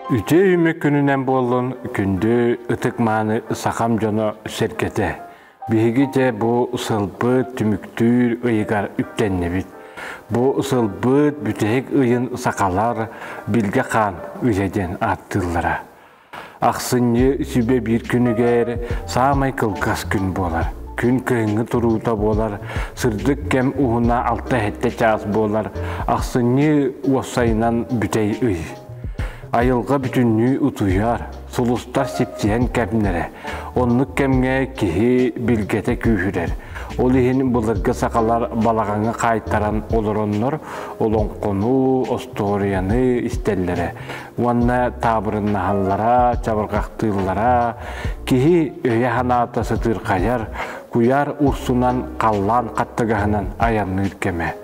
Үтүө үмүк күнүнэн буоллун күндү ытык-мааны сахам дьоно сэргэтэ. Биһиги дьэ бу сылбыт түмүктүүр ыйыгар үктэннибит. Бу сылбыт бүтэһик ыйын сахалар Билгэ хаан ыйа диэн ааттыыллара. Ахсынньы сүбэ биир күнүгэр саамай кылгас күн буолар. Күн кыһыҥҥы туруута буолар, сырдык кэм уһуна 6-7 чаас буолар, ахсынньы уопсайынан бүтэй ый. Айылҕа бүтүннүү утуйар, сулустар сипсиһэн кэмнэрэ. Оннук кэмҥэ киһи билгэтэ күүһүрэр. Ол иһин былыргы сахалар балаҕаҥы хаайтаран олороннор олоҥхону, остуоруйаны истэллэрэ. уонна таабырыннаһаллара, чабырҕахтыыллара, киһи өйө-санаата сытыырхайар, куйаар урсунан халлаан хаттыгаһынан айанныыр кэмэ.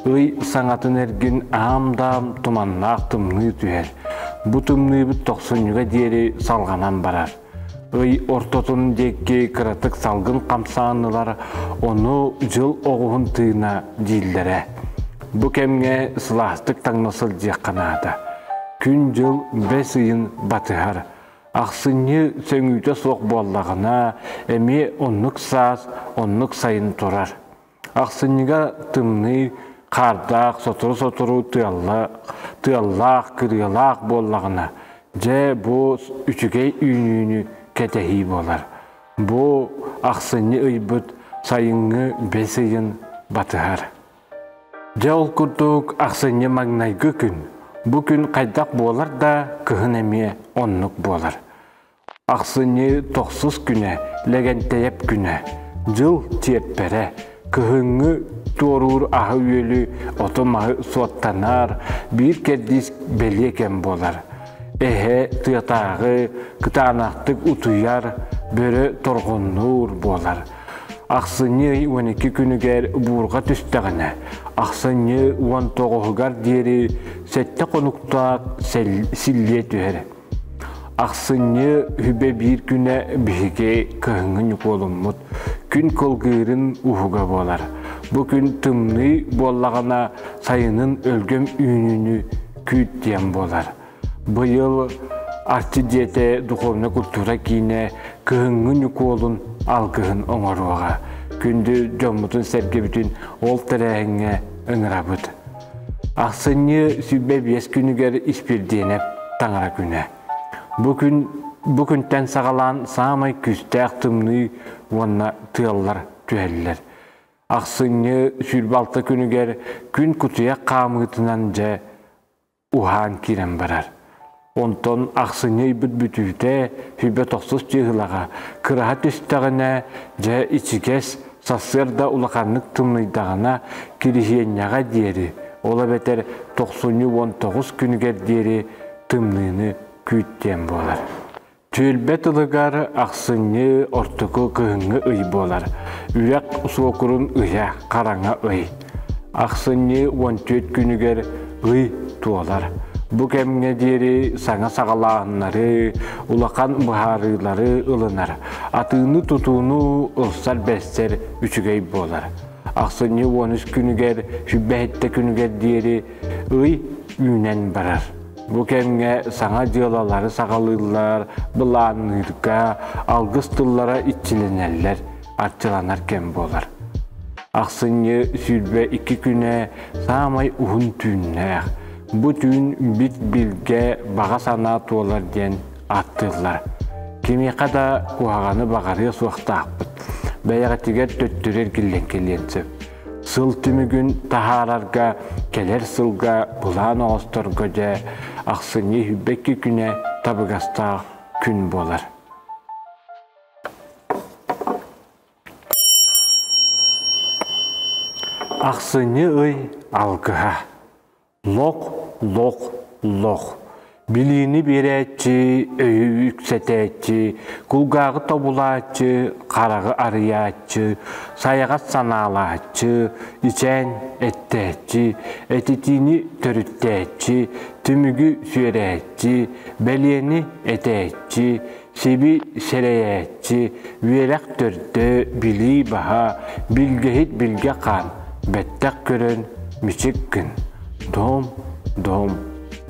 Ый саҥатын эргин аам-даам туманнаах тымныы түһэр. Бу тымныыбыт тохсунньуга диэри салҕанан барар. ый ортотун диэки кыратык салгын хамсаанылар ону дьыл оҕуһун тыына дииллэрэ. Бу кэмҥэ сылаастык таҥна сылдьыахха наада. Күн-дьыл бэс ыйын батыһар. Ахсынньы сөҥүүтэ суох буоллаҕына, эмиэ оннук саас, оннук сайын турар. Ахсынньыга тымныы, хардаах, сотору-сотору тыаллаах, кырыалаах буоллаҕына, дьэ, бу үчүгэй үүнүүнү кэтэһии буолар. Бу ахсынньы ыйбыт сайыҥҥы бэс ыйын батыһар. Дьэ, ол курдук ахсынньы маҥнайгы күн. Бу күн хайдах буолар да, кыһын эмиэ оннук буолар. Ахсынньы тохсус күнэ, Лэгэнтэйэп күнэ, дьыл чиэппэрэ, кыһыҥҥы туоруур аһы-үөлү, оту-маһы суоттанар, биир кэрдиис бэлиэ кэм буолар. Эһэ тыатааҕы кытаанахтык утуйар, бөрө торҕуннуур буолар. Ахсынньы уон икки күнүгэр буурҕа түстэҕинэ, ахсынньы уон тоҕуһугар диэри сэттэ хонуктаах силлиэ түһэр. Ахсынньы үбэ биир күнэ биһиги кыһыҥҥы ньукуолуммут күн кылгыырын уһуга буолар. Бу күн тымныы буоллаҕына сайынын өлгөм үүнүүнү күүтиэм буолар. Быйыл Арчы дьиэтэ духовнай культура киинэ кыһыҥҥы ньукуолун алгыһын оҥоруоҕа. Күндү дьоммутун сэргэбитин ол тэрээһиҥҥэ ыҥырабыт. Ахсынньы сүүрбэ биэс күнүгэр Испирдиэнэп таҥара күнэ. Бу күн бу күнтэн саҕалаан саамай күүстээх тымныы уонна тыаллар түһэллэр. Ахсынньы сүүрбэ алта күнүгэр күн кутуйах хаамыытынан дьэ уһаан киирэн барар. Онтон ахсынньы ыйбыт бүтүүтэ хүбэ тохсус дьыһылаҕа кыраһа түстэҕинэ, дьэ ичигэс, сарсыарда улаханнык тымныйдаҕына, кириһиэнньэҕэ диэри, ол эбэтэр тохсунньу уон тоҕус күнүгэр диэри тымныыны күүттиэн буолар. Түөлбэ тылыгар ахсынньы ортоку кыһыҥҥы ый буолар. Үрэх суокурун ыйа хараҥа ый. Ахсынньы уон түөрт күнүгэр ый туолар. Бу кэмҥэ диэри саҥа саҕалааһыннары, улахан быһаарыылары ылынар. Атыыны-тутууну ылсар-бэстэр үчүгэй буолар. Ахсынньы уон үс күнүгэр, сүбэһиттэ күнүгэр диэри ый үүнэн барар. Бу кэмҥэ саҥа дьыалалары саҕалыыллар, былаанныырга, алгыс тыллара иччилэнэллэр, арчыланар кэм буолар. Ахсынньы сүүрбэ икки күнэ саамай уһун түүннээх. Бу түүн бит билгэ баҕа санаа туолар диэн ааттыыллар. Кимиэхэ да куһаҕаны баҕарыа суохтаахпыт. Бэйэҕитигэр төттөрү эргиллэн кэлиэн сөп. Сыл түмүгүн таһаарарга кэлэр сылга былаан оҕосторго дьэ ахсынньы үһүйбэкки күнэ табыгастаах күн буолар. Ахсынньы ый алгыһа Лох, лох, лох. Билиини биэрээччи, өйү үксэтээччи, кулгааҕы тобулааччы, хараҕы арыйааччы, сайаҕас санаалааччы, ичээн эттээччи, этитиини төрүттээччи, түмүгү сүөрээччи, бэлиэни этээччи, Сиби сэрэйээччи, үөрэх төрдө, билии баһа, билгэһит билгэ хаан, бэттэх көрөн, мичик күн. Доом, доом,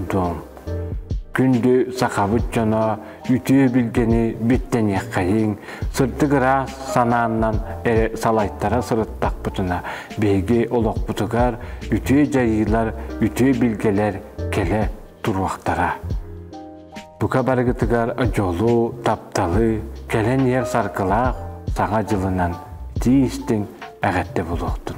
доом. Күндү сахабыт дьоно, үтүө билгэни биттэниэххэйиҥ, сырдык ыраас санааннан эрэ салайтара сырыттахпытына, биһиги олохпутугар үтүө дьайыылар, үтүө билгэлэр кэлэ туруохтара. Бука барыгытыгар дьолу, тапталы, кэлэн иһэр саргылаах Саҥа дьылынан тиистиҥ эҕэрдэ булуохтун!